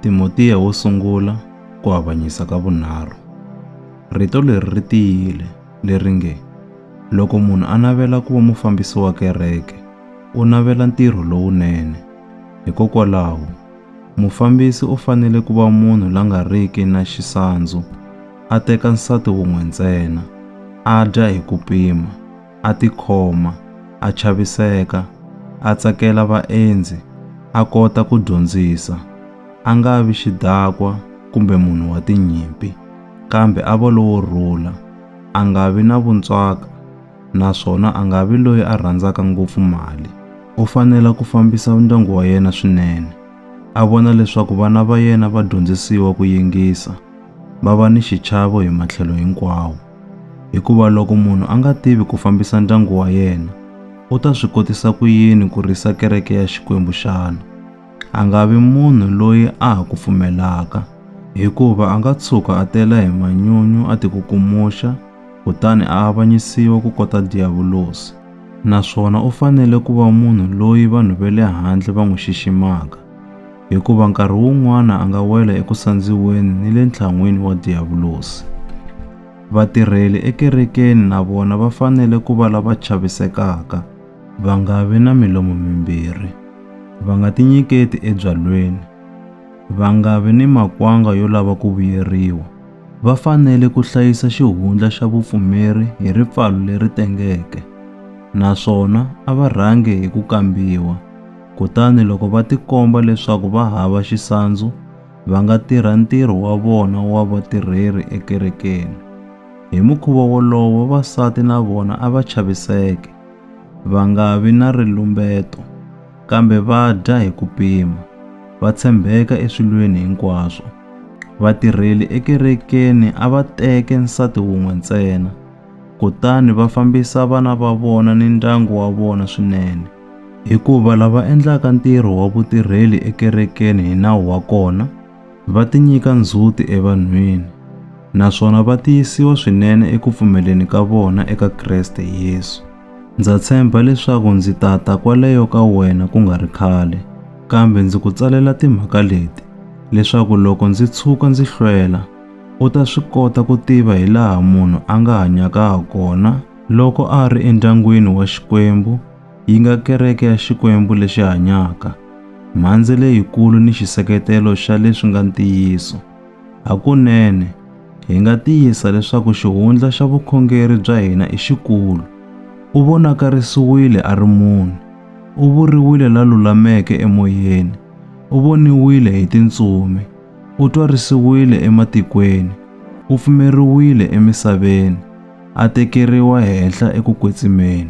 Timotiya wo sungula ku avanyisa ka vunharhu. Rito leri ri tiyile leri nge, Loko munhu a navela ku va mufambisi wa kereke, u navela ntirho lowunene. Hikokwalaho, mufambisi u fanele ku va munhu la nga riki na xisandzu, a teka nsati wun'we ntsena, a dya hi ku pima, a tikhoma, a chaviseka, a tsakela vaendzi, a kota ku dyondzisa, a nga vi xidakwa kumbe munhu wa tinyimpi, kambe a va lowo rhula, a nga vi na vuntswaka naswona a nga vi loyi a rhandzaka ngopfu mali. U fanela ku fambisa ndyangu wa yena swinene, a vona leswaku vana va yena va dyondzisiwa ku yingisa, va va ni xichavo hi matlhelo hinkwawo. Hikuva loko munhu a nga tivi ku fambisa ndyangu wa yena, u ta swi kotisa ku yini ku risa kereke ya Xikwembu xana? A nga vi munhu loyi a ha ku pfumelaka, hikuva a nga tshuka a tela hi manyunyu a tikukumuxa kutani a avanyisiwa ku kota Diyavulosi. Naswona u fanele ku va munhu loyi vanhu va le handle va n'wi xiximaka. hikuva nkarhi wun'wana a nga wela eku sandziweni ni le ntlhan'wini wa Diyavulosi. Vatirheli ekerekeni na vona va fanele ku va lava chavisekaka, va nga vi na milomo mimbirhi, va nga tinyiketi ebyalweni, va nga vi ni makwanga yo lava ku vuyeriwa. Va fanele ku hlayisa xihundla xa vupfumeri hi ripfalo leri tengeke naswona a va rhangi hi ku kambiwa. Kutani loko va tikomba leswaku va hava xisandzu, va nga tirha ntirho wa vona wa vatirheri ekerekeni. Hi mukhuva wolowo, vavasati na vona a va chaviseke, va nga vi na rilumbeto, kambe va dya hi ku pima, va tshembeka eswilweni hinkwaswo. Vatirheli ekerekeni a va teke nsati wun'we ntsena, kutani va fambisa vana va vona ni ndyangu wa vona swinene. Hikuva lava endlaka ntirho wa vutirheli ekerekeni hi nawu wa kona va tinyika ndzhuti evanhwini naswona va tiyisiwa swinene eku pfumeleni ka vona eka Kreste Yesu. Ndza tshemba leswaku ndzi ta ta kwaleyo ka wena ku nga ri khale, kambe ndzi ku tsalela timhaka leti leswaku loko ndzi tshuka ndzi hlwela, u ta swi kota ku tiva hi laha munhu a nga hanyaka ha kona Loko a ri endyangwini wa Xikwembu, yi nga kereke ya Xikwembu lexi hanyaka, mhandze leyikulu ni xiseketelo xa leswi nga ntiyiso. Hakunene, hi nga tiyisa leswaku xihundla xa vukhongeri bya hina i xikulu. U vonakarisiwile a ri munhu, u vuriwile la lulameke emoyeni, u voniwile hi tintsumi, U twarisiwile ematikweni, u pfumeriwile emisaveni, a tekeriwa henhla eku kwetsimeni.